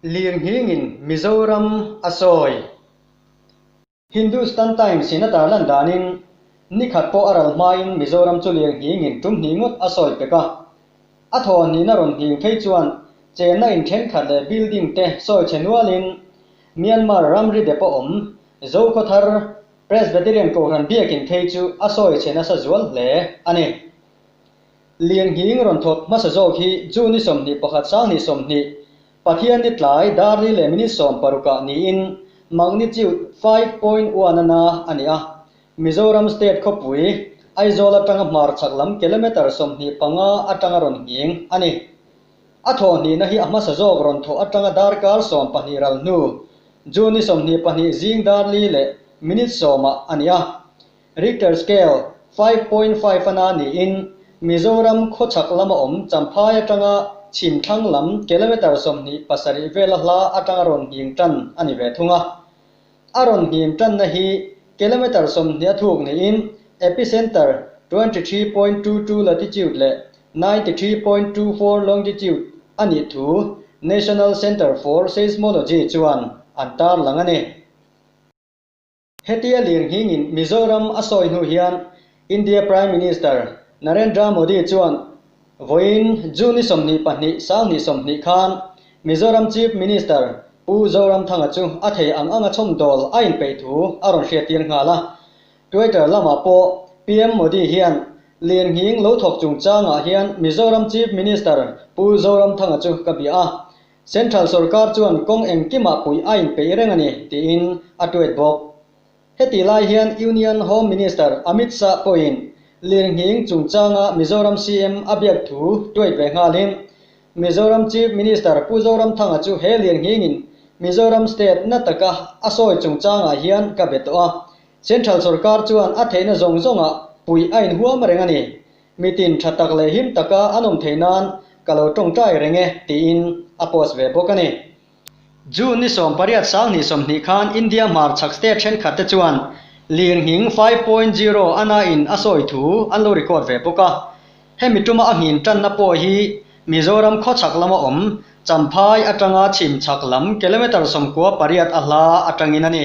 Lirnghingin Mizoram a sawi. Hindustan Times-in a tar lan danin, Nikhat pawh a ral hmain Mizoram chu lirnghingin tum hnih ngawt a sawi pek a. A thawhnihna rawn hning phei chuan chenna in thenkhat leh building te sawi chhe nualin Myanmar ramri dep a awm Zokho Thar Presbyterian kohhran biakin phei chu a sawi chhe nasa zual hle a ni. Lianghing rawn thawt hmasa zawk hi June ni sawmhnih pakhat Sang ni sawmhnih Pathian ni tlai Darli leh minute sawm parukah niin magnitude five point one ana a ni a, Mizoram state khawpui Aizawl atanga hmarchhak lam kilometre sawmhnih panga atanga rawn nghing a ni. A thawhnihna hi a hmasa zawk rawn thawh atanga darkar sawm pahnih ral hnu June ni sawmhnih pahnih zing Darli leh minute sawmah a ni a. Richter scale five point five a na niin Mizoram khawchhak lama awm Champhai atanga chhim thlang lam kilometre sawmhnih pasarih vela hla atanga rawn hnim tan a ni ve thung a. A rawn hnim tanna hi kilometre sawmhnih a thuk niin epicentre twenty three point two two latitude leh ninety three point two four longitude a nih thu National Centre for Seismology chuan an tarlang a ni. Hetia lirnghingin Mizoram a sawi hnu hian India Prime Minister Narendra Modi chuan vawiin June-i sawmhnih pahnih Sanghnih sawmhnih khan Mizoram Chief Minister Pu Zoramthanga chu a thei ang anga chawmdawl a inpeih thu a rawn hriattir nghal a. Twitter lamah pawh PM Modi hian lirnghing lo thawk chungchangah hian Mizoram Chief Minister Pu Zoramthanga chu ka bia a, Central sorkar chuan kawng engkimah puih a inpeih reng a ni, tiin a tuet bawk. Heti lai hian Union Home Minister Amit Shah pawhin Lirnghing chungchanga Mizoram CM a biak thu tuet ve nghalin, Mizoram Chief Minister Pu Zoramthanga chu he Lirnghingin Mizoram State na taka a sawi chungchangah hian ka be tawh a, Central sorkar chuan a theihna zawng zawngah puih a inhuam reng a ni, Mi tin tha tak leh him taka an awm thei nan ka lo tawngtai reng e, tiin a post ve bawk a ni. June ni sawm pariat sang hnih sawmhnih khan India hmarchhak state thenkhatte chuan lirnghing five point zero a na in a sawi thu an lo record ve bawk a. Hemi tuma a nghin tanna pawh hi Mizoram khawchhak lama awm Champhai atanga chhim chhak lam kilometre sawmkua pariat a hla atangin a ni.